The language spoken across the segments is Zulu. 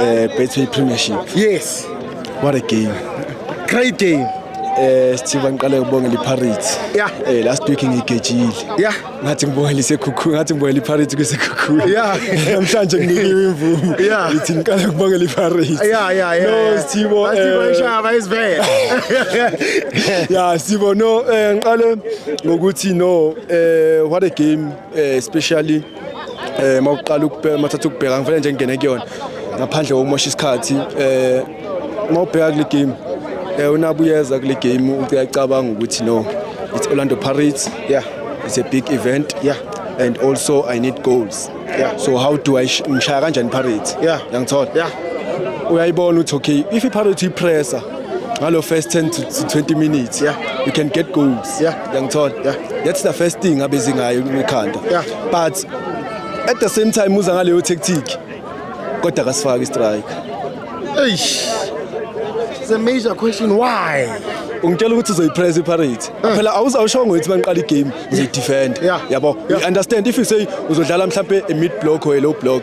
Uh, Betway Premiership. Yes. What a game. Great game. Eh sithiba ngiqale ukubongela iPirates. Yeah. Eh last week ngigejile. Yeah. Ngathi ngibongela isekhukhu, ngathi ngibongela iPirates kusekhukhu. Yeah. Namhlanje nginikiwe imvumo. Yeah. Ngithi ngiqale ukubongela iPirates. Yeah, yeah, yeah. No sithibo. Sithibo eh, ishaba isivele. Yeah, sithibo no eh ngiqale ngokuthi no eh what a game eh especially eh mawuqala ukubheka mathatha ukubheka ngifela nje ngene kuyona ngaphandle kokumosha isikhathi eh mawubheka kule game eh unabuyeza kule game uyacabanga ukuthi no it's Orlando Pirates yeah it's a big event yeah and also I need goals yeah so how do I ngishaya kanjani Pirates yeah yangithola yeah uyayibona ukuthi okay if iPirates ipressa ngalo first 10 to 20 minutes yeah. you can get goals yeah. yangithola yeah. that's the first thing abezi ngayo ekhanda yeah. but at the same time uza ngaleyo tactic kodwa kasifaki strike eish it's a major question why ungitshela ukuthi uzoyipress iparate eh. phela awuzawushongo ukuthi mangiqala igame uzoyidefend yabo you understand if you say uzodlala mhlampe a mid block or a low block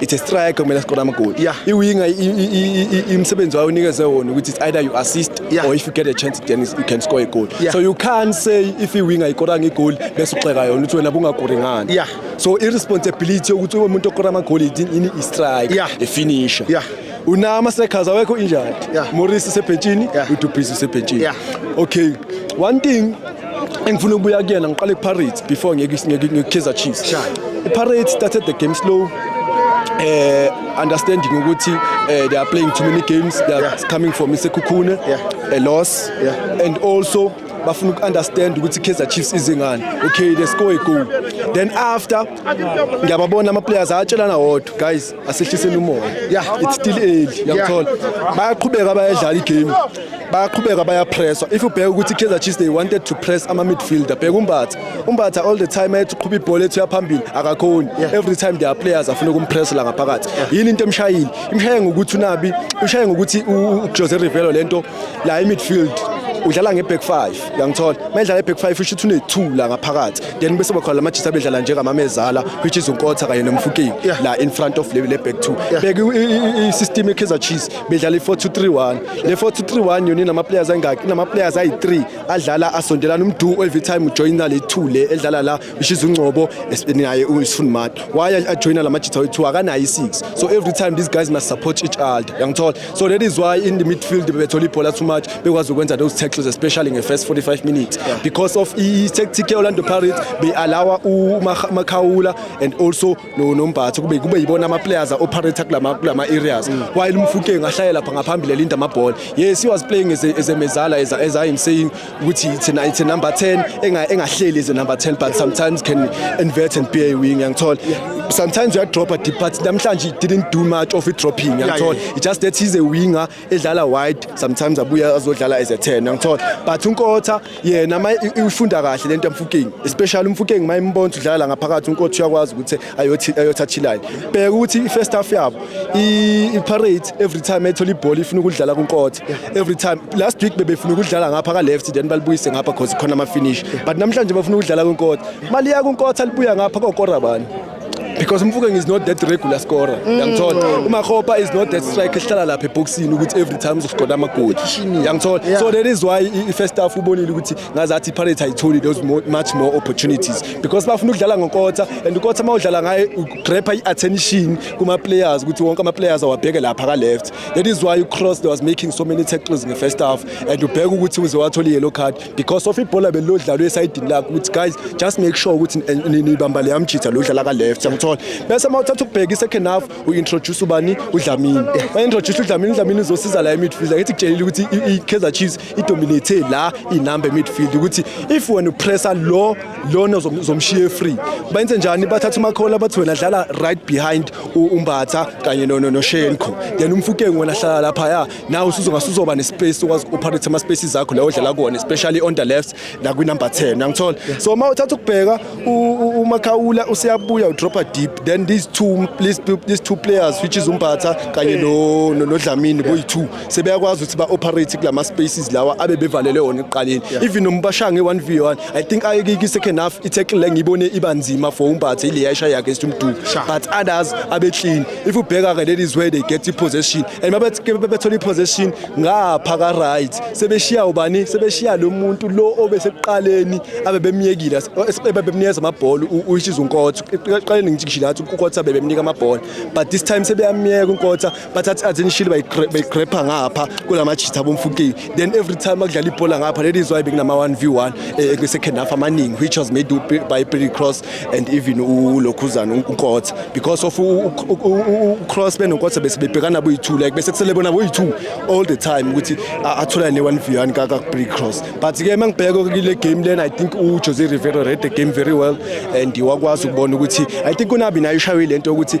it's a striker kumele askore amagoli yeah. iwinga imsebenzi wayo unikeze wona ukuthi it's either you assist yeah. or if you get a chance then you can score a goal yeah. so you can't say if iwinga ikoranga igoli bese uxeka yona ukuthi wena bungakori ngani yeah. so irresponsibility yokuthi umuntu okora amagoli yini istrike yeah. ifinisher yeah. unama sekhaza wekho injani yeah. morisi sebhentshini yeah. udubhizi sebhentshini yeah. okay one thing engifuna ukubuya kuyena ngiqale ku-pirates before ngekukhiza chiefs i-pirates started the game slow uh, understanding ukuthi uh, they are playing too many games they are yeah. coming from isekhukhune yeah. a loss yeah. and also bafuna uku-understand ukuthi i-kaizer chiefs izingane okay they score a goal then after ngiyababona ama-players ayatshelana wodwa guys asehliseni umoya ya it's still early yangithola bayaqhubeka bayadlala igame bayaqhubeka bayapresswa if ubheka ukuthi i-kaizer chiefs they wanted to press ama-midfielder bheka umbatha umbatha all the time ayethi uqhuba ibhola ethu yaphambili akakhoni every time there are players afuna ukumpressa la ngaphakathi yini into emshayile imshaye ngokuthi unabi imshaye ngokuthi ujose rivelo le nto la i-midfield udlala nge-back five yangithola uma edlala nge-back five usho ukuthi une-two la ngaphakathi then bese bakhona lamajita bedlala njengamamezala which is unkotha kanye nomfukeni yeah. la in front of le back two yeah. bheka i-system ye-kaizer chiefs bedlala i-4-2-3-1 le 4-2-3-1 yona inama-players ayingaki inama-players ayi-3 adlala asondelana umdu every time ujoyina le two le edlala la which is ungcobo naye usifunimati why ajoyina la majita wethu akanayo i-six so every time these guys must support each other yangithola so that is why in the midfield bebethola ibhola too much bekwazi ukwenza those tackles especially in the first 45 minutes yeah. because of i-tactic ye-orlando pirates beyi-alawa umakhawula and also nombatho kube kube yibona ama-players a-operate kulama-areas mm. while umfukeng ahlaye lapha ngaphambili elinda amabhola yes he was playing as a, as a mezala as, as i am saying ukuthi it's a, it's a number 10 enga engahleli is a number 10 but sometimes can invert and be a wing ngiyangithola sometimes you drop a deep but namhlanje didn't do much of it dropping ngiyangithola yeah, yeah. it just that he's a winger edlala wide sometimes abuya azodlala as a 10 ngiyangithola but unkotha yena ufunda kahle lento yamfukeng especially umfukeng mayimbonza udlala ngaphakathi unkotha uyakwazi ukuthi ayothi ayothi achilane bheka ukuthi i-first half yabo i-parade every time ethola ibhola ifuna ukudlala kunkotha every time last week bebefuna ukudlala ngapha ka-left then balibuyise ngapha cause khona ama-finish but namhlanje bafuna ukudlala kunkotha maliya kunkotha libuya ngapha kokora bani because Mfukeng is not that regular scorer mm. yangithola uma Khopa is not that striker ehlala lapha eboxini ukuthi every time uzoscoda amagoli yangithola so that is why i first half ubonile ukuthi ngazathi iPirates ayitholi those much more opportunities because bafuna ukudlala ngokotha and ukotha uma udlala ngaye ugrepha i-attention kuma-players ukuthi wonke ama-players awabheke lapha ka-left that is why ucross was making so many tackles nge-first half and ubheke ukuthi uze wathola i-yellow card because of ibhola belilodlalwe esayidini lakho ukuthi guys just make sure ukuthi nibamba leya mjitha lo udlala ka-left yangithola bese uma uthatha ukubheka i-second half uintroduce ubani udlamini baintroduce udlamini udlamini uzosiza la emidfield angithi kutshelile ukuthi i-kaizer chiefs idominate la inumber midfield ukuthi if wena upressa lo lona uzomshiye free benze njani bathatha umakhola bathi wena dlala right behind umbatha kanye no no shenko then umfukeng wena hlala lapha ya na usuzongasuzoba nespace ukwazi operate ama spaces zakho la odlala kuona especially on the left la kwi number 10 ngangithola so uma uthatha ukubheka umakhawula usiyabuya udropa deep then these two these two players which is umbatha kanye no no dlamini boyi two sebeyakwazi ukuthi ba-operate kulama spaces lawa abe bevalele wona ekuqaleni even noma bashange 1v1 i think ayekike second half i-tackle le ngiyibone iba nzima for umbathe ile yayishaya against umduku but others abe clean if ubheka ke ladies where they get i-possession and mabethola i-possession ngapha ka-right sebeshiya ubani sebeshiya lo muntu lo obesekuqaleni abe bemyekile bebemnikeza amabhola uyishiza unkotha eqaleni ngijikishile athi unkotha bebemnika amabhola but this time sebeyamyeka unkotha bathatha i-ads enishile bayigrepha ngapha kula majitha bomfukeni then every time akudlala ibhola ngapha that is why bekunama-one v one eh, kwi-second half amaningi which was made by billy cross and even ulokhuzana unkotha because of ucross benonkotha bese bebhekana boyi-two like bese kusele bona boyi-two all the time ukuthi atholane ne-one v one kabilly cross but-ke uma ngibheka kule game lena i think ujose rivero read the game very well and wakwazi ukubona ukuthi i think unabi naye ushawe le nto yokuthi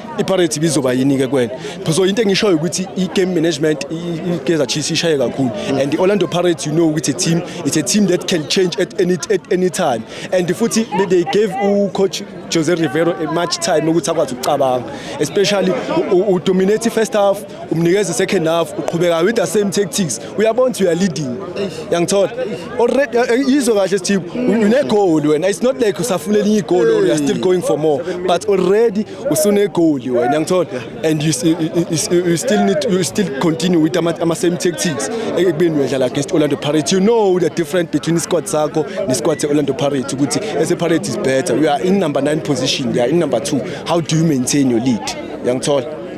iparate ibizoba yini-ke kwena so into engishoyo ukuthi i-game management ikeza chiefs ishaye kakhulu and i-orlando pirates you know ukuthi team it's a team that can change at any, at any time and futhi they gave ucoach jose rivero much time ukuthi akwazi ukucabanga especially udominate i-first half umnikeza i-second half uqhubeka with the same tactics uyabona ukuthi uya leading yangithola already eh, eh, yizwe kahle sithip une goal wena it's not like usafuna elinye goal or you are still going for more but already usune goal wena yangithola and you, you, you still need you still continue with ama, ama same tactics ekubeni uyadlala against Orlando Pirates you know the difference between squad sakho ne squad se Orlando Pirates ukuthi as a Pirates is better we are in number 9 position we are in number 2 how do you maintain your lead yangithola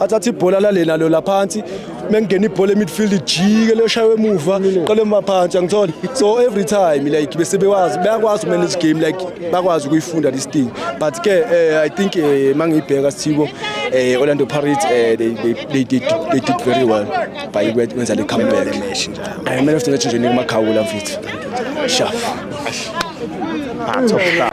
athathe ibhola lale nalo laphansi mengena ibhola emidfield ijike loshawe emuva qale maphansi angitholi so every time like bese bewazi bayakwazi manage game like bakwazi ukuyifunda this thing but ke uh, i think uh, eh, mangiyibheka sithibo eh Orlando Pirates eh they they they did they did very well by wenza le comeback match njalo eh man of the match nje nikumakhawula mfethu shaf part of that